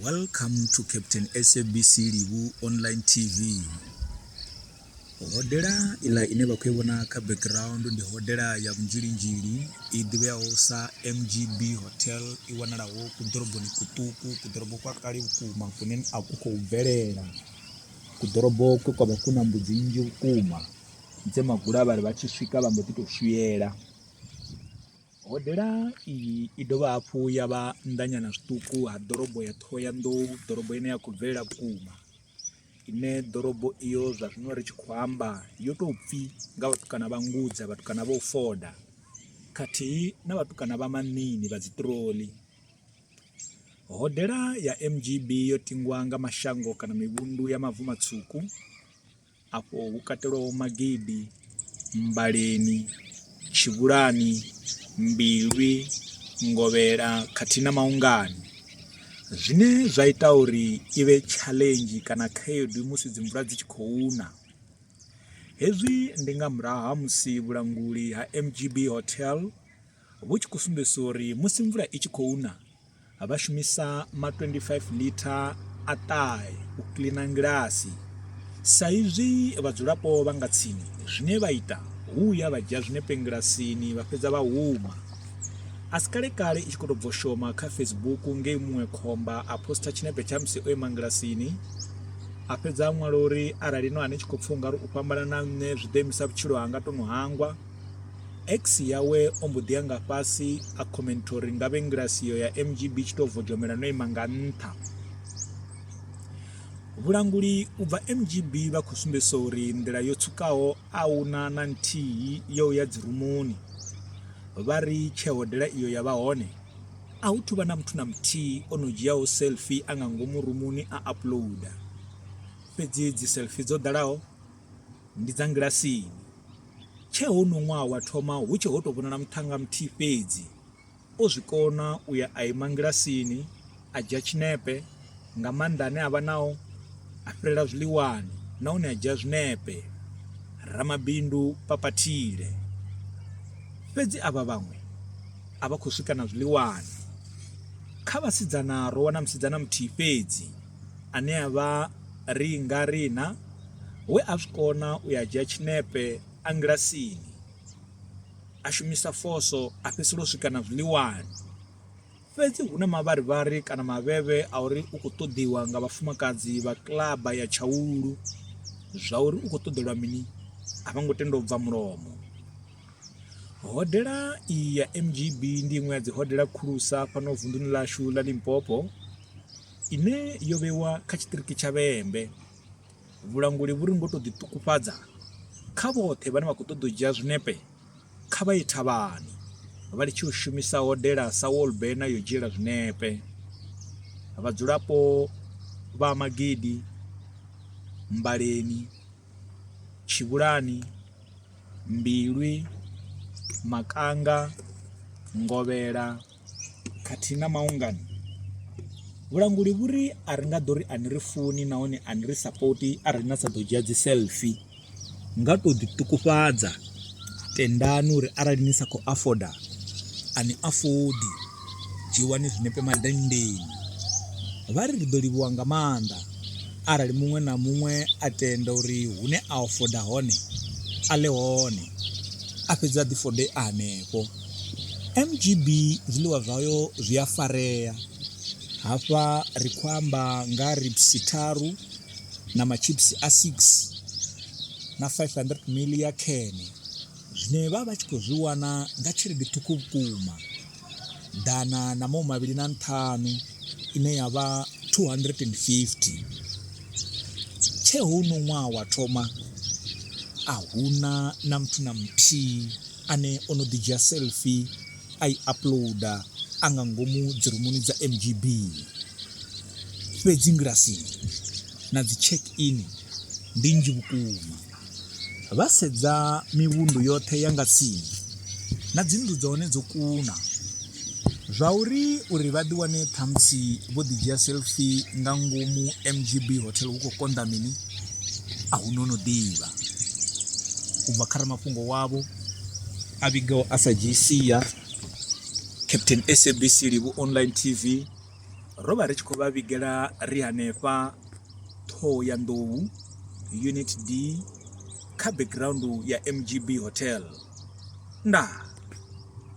Welcome to Captain SABC Livhu Online TV. Hodela ila ine vha khou i vhona kha background ndi hodela ya Vunzhilinzhili i ḓivheaho sa MGB Hotel i wanalaho ku ḓoroboni kuṱuku ku ḓorobo kwa kale vhukuma kune a ku khou bvelela ku ḓorobo ku kwavha ku na mbudzi nnzhi vhukuma dze magula vha ri vha tshi swika vha mbo ḓi tou shuyela Hodela iyi i dovha hafhu ya vha nnḓanyana zwiṱuku ha ḓorobo ya Ṱhohoyanḓou, ḓorobo ine ya khou bvelela vhukuma, ine ḓorobo iyo zwa zwino ri tshi khou amba yo tou pfi nga vhatukana vha Ngudza, vhatukana vha u foda khathihi na vhatukana vha Manini vha dziṱiroli. Hodela ya MGB yo tingwa nga mashango kana mivhundu ya Mavu Matswuku, afho hu katelwaho Magidi, Mmbaleni, Tshivhulani, Mbilwi, Ngovhela khathihi na Maungani zwine zwa ita uri i vhe challenge kana khaedu musi dzi mvula dzi tshi khou na hezwi ndi nga murahu ha musi vhulanguli ha MGB Hotel vhu tshi khou sumbedzisa uri musi mvula i tshi khou na vha shumisa ma 25 litha a ṱahe u kiḽina ngilasi sa izwi vhadzulapo vha nga tsini zwine vha ita hu ya vha dzhia zwinepe ngilasini vha fhedza vha huma a si kale kale i tshi khou tou bvo shoma kha facebook ngei muṅwe khomba a posta tshinepe tsha musi o ima ngilasini a fhedza a ṅwala uri arali no ane tshi khou pfha ungari u fhambana na nṋe zwi ḓo imisa vhutshilo hanga tono hangwa Ex yawe o mbo ḓi ya nga fhasi a comment uri ngavhe ngilasi yo ya MGB tshi to vodzhomela no ima nga nṱha. Vhulanguli u bva MGB vha khou sumbedzisa uri nḓila yo tswukaho a huna na nthihi yo ya dzi rumuni. Vha ri tshe hodela iyo ya vha hone a hu thuvha na muthu na muthihi o no dzhiaho selfie a nga ngomu rumuni a uploader. Fhedzi dzi selfie dzo ḓalaho ndi dza ngilasini tshe ho no ṅwaha wa thoma hu tshe ho tou vhonala muthanga muthihi fhedzi o zwi kona u ya a ima ngilasini a dzhia tshinepe nga maanḓa ane a vha nao a fhirela zwiḽiwani nahone a dzhia zwinepe ramabindu papathile fhedzi avha vhaṅwe a vha khou swika na zwiḽiwani kha vhasidzana ro wana musidzana muthihi fhedzi ane a vha Ringa Rina we a zwi kona u ya dzhia tshinepe a ngilasini, a shumisa foso a fhedzisela u swika na zwiḽiwani. Fhedzi hu na mavharivhari kana mavhevhe a uri u khou ṱoḓiwa nga vhafumakadzi vha kiḽaba ya Tshaulu zwa uri u khou ṱoḓelwa mini a vho ngo tenda u bva mulomo. Hodela iyi ya MGB ndi iṅwe ya dzi hodela khulusa fhano vunḓuni ḽashu ḽa Limpopo. ine yo vhewa kha tshiṱiriki tsha Vhembe. Vhulanguli vhu ri ngo tou ḓiṱukufhadza kha vhoṱhe vhane vha khou ṱoḓa u dzhia zwinepe kha vha ye thavhani vha litshe u shumisa hodela sa wolbena yo dzhiela zwinepe. Vhadzulapo vha Magidi, Mbaleni, Tshivhulani, Mbilwi, Makanga, Ngovhela, khathihi na maungano. Vhulanguli vhu ri a ri nga ḓo ri a ni ri funi nahone a ni ri sapoti arali na sa ḓo dzhia dzi selfie nga tou ḓiṱukufhadza tendani uri arali ni sa khou afoda a ni afodi dzhiwani zwinepe madenndeni vha ri ri ḓo livhuwa nga maanḓa arali muṅwe na muṅwe a tenda uri hune a afoda hone a ḽe hone a fhedza a ḓifode a hanefho MGB zwiḽiwa zwayo zwi a farea. Hafha ri khou amba nga ribsi tharu na matshipsi a 6 na 500 mili ya khene zwine vha vha tshi khou zwi wana nga tshelede ṱhukhu vhukuma, ḓana na mahu mavhili na nṱhanu ine ya vha R250. Tshee hoyu ṅwaha wa thoma a hu na na muthu na muthihi. ane o no ḓi dzhia selfie a i uploader a nga ngomu dzirumuni dza MGB. Fhedzi ngilasini na dzi check in ndi nnzhi vhukuma. Vha sedza mivhundu yoṱhe ya nga tsini na dzi nnḓu dza hone dzo kuna. Zwa uri uri vha ḓi wane ṱhamusi vho ḓi dzhia selfie nga ngomu MGB hotel hu khou konḓa mini? a hu no no ḓivha u bva kha ramafhungo wavho a vhigaho a sa dzhii sia captain sabc livhu online tv ro vha ri tshi khou vha vhigela ri hanefha ṱhoho ya nḓou unit d kha background ya mgb hotel ndaa